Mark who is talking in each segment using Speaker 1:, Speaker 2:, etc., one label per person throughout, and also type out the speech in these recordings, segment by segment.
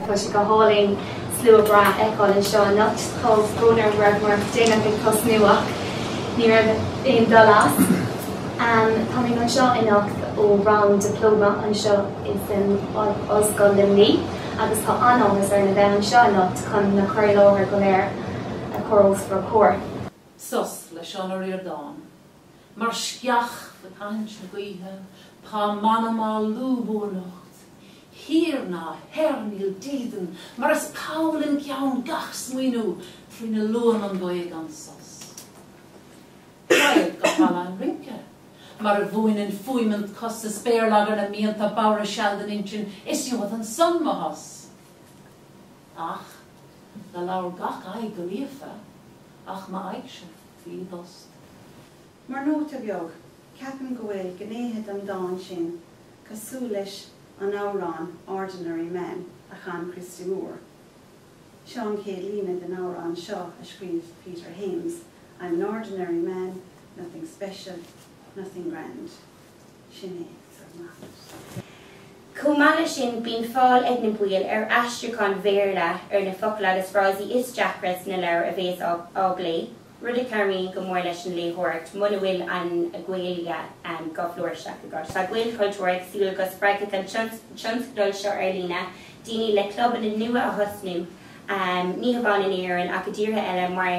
Speaker 1: Tá sé go hálainn slua breá a fheiceáil anseo anocht. Tá brón orm go rabhamar déanach ag tosnú ach ní raibh aon dul as. Tá mé anseo anocht ó rang Diplóma anseo insan Ollscoil Luimní agus tá an-áthas orm a bheith anseo anocht chun na cur i láthair go léir a chur os bhur comhair. Sos
Speaker 2: le Seán Ó Ríordáin. Mar sceach fé thathaint na gaoithe tá m'anam á lúbadh anocht thiar ná thoir níl dídean mar is poll im cheann gach smaoineamh trína liúnn an ghaoth gan sos raghad go halla an rince mar a mhúineann fuaimint cos is béarlagar na mianta bodhaire seal don intinn is gheobhad ansan mo shos ach do labhair gach aghaidh go líofa. Ach m'aghaidhse bhí i dtost.
Speaker 3: Mar nóta beag, ceapaim go bhfuil gnéithe den dán sin cosúil leis an amhrán Ordinary Man a chan Christy Moore. Seo an chéad líne den amhrán seo a scríobh Peter Hames, I'm an ordinary man, nothing special, nothing grand. Sin é.
Speaker 4: Chomh maith le sin bíonn fáil ag na baill ar aistriúcháin Bhéarla ar na focail agus frásaí is deacra sna leabhair a bhéas á bplé, rud a chabhraíonn go mór leis an léitheoireacht muna bhfuil an Ghaeilge go flúirseach agat. Tá Gaelchultúr ag súil go spreagfaidh an tionscadal seo ar líne daoine le clubanna nua a thosnú ní hamháin in Éirinn ach i dtíortha eile mar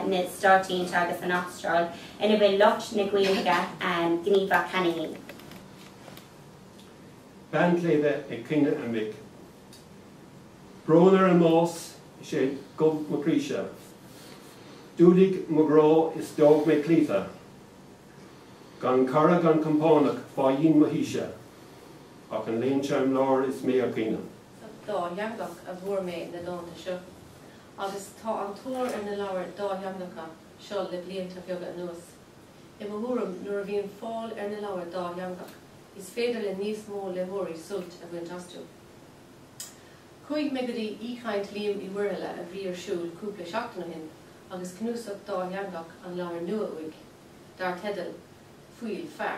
Speaker 4: na Stáit Aontaithe agus an Astráil, ina bhfuil lucht na Gaeilge gníomhach cheana fhéin.
Speaker 5: Bean tSléibhe ag Caoineadh a Mic. Brón ar an mbás 'sé dhubh mo chroíse. D'fhuadaigh mo ghrá is d'fhág mé cloíte. Gan cara gan compánach fá dhíon mo thíse, ach an léan seo im lár is mé ag caoineadh.
Speaker 6: dátheangach a bhfuair mé na dánta seo agus tá an-tóir ar na leabhair dátheangacha seo le blianta beaga anuas. I mo thuairim nuair a bhíonn fáil ar na leabhair dátheangach is féidir le níos mó léitheoirí sult a bhaint astu. Chuaigh mé go dtí aoichaint Liam Uí Mhuirthile a bhí ar siúl cúpla seachtain ó shin agus cnuasach dátheangach an leabhar nua uaidh dar teideal Fuíoll Feá.